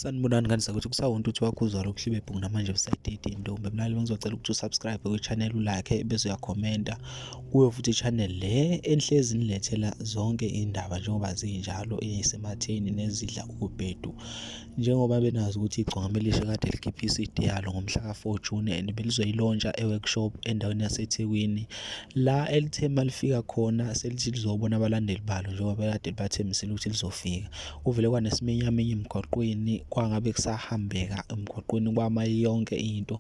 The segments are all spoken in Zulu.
Sanibonani ngani sakuthi kusawonto uthi wakho uzwala ukuhlibe bhuku namanje episode 18 ntombi mlaleli ngizocela ukuthi usubscribe kwi-channel lakhe bese uyakhomenta kuyo futhi i-channel le enhlezi nilethela zonke indaba njengoba zinjalo eyisematheni nezidla ubhedu njengoba benazi ukuthi igcwama elisha kade likhiphe i-CD yalo ngomhla ka-4 June and belizoyilontsha e-workshop endaweni yaseThekwini la elithe malifika khona selithi lizobona abalandeli balo njengoba bekade libathembisile ukuthi lizofika kuvele kwanesiminyaminya emgwaqweni kwangabe kusahambeka emgwaqweni kwama yonke into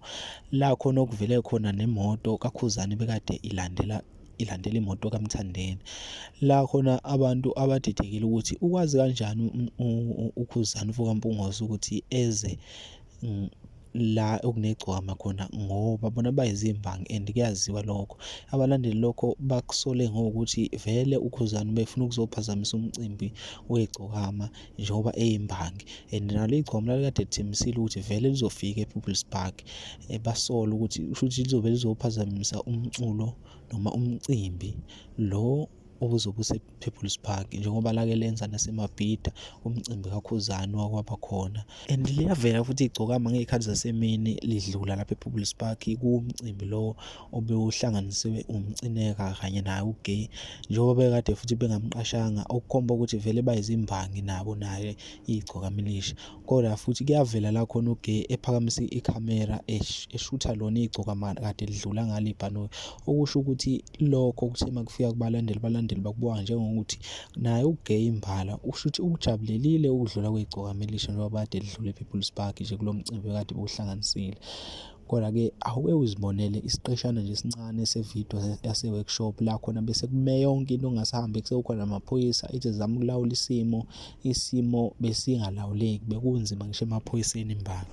la khona okuvele khona nemoto kakhuzane bekade ilandela ilandela imoto kaMthandeni la khona abantu abadidekile ukuthi ukwazi kanjani ukhuzane ufokaMpungozi ukuthi eze la okunegcwama khona ngoba bona bayizimbangi and kuyaziwa lokho abalandeli lokho bakusole ngokuthi vele ukhuzani befuna ukuzophazamisa umcimbi wegcokama njengoba eyimbangi and nalo igcwama lalikade lithembisile ukuthi vele lizofika ePeople's Park eh, basola ukuthi kushuthi lizobe lizophazamisa umculo noma umcimbi lo obuzobe People's Park njengoba lake lenza naseMabhida umcimbi kaKhuzani wakwaba khona and liyavela futhi igcokama ngey'khathi zasemini lidlula lapha ePeople's Park kuwumcimbi lowo obewuhlanganisiwe umcineka kanye naye ugay njengoba bekade futhi bengamqashanga okukhomba ukuthi vele bayizimbangi nabo naye igcokama elisha. Kodwa futhi kuyavela la khona uGay ephakamisa ikhamera eshutha lona igcoka kade lidlula ngale ibhanoyi okusho ukuthi lokho kuthe makufika kubalandeli balandeli bakubuka njengokuthi naye uGay imbala usho ukuthi ukujabulelile ukudlula kwegcoka melisha njengoba kade lidlule ePeople's Park nje kulo mcimbi kade bewuhlanganisile Kodwa-ke awuke uzibonele isiqeshana nje esincane sevidiyo yase-workshop la khona bese kume yonke into ongasahambi sekukhona amaphoyisa ithi zama ukulawula isimo isimo besingalawuleki bekunzima ngisho emaphoyiseni imbangi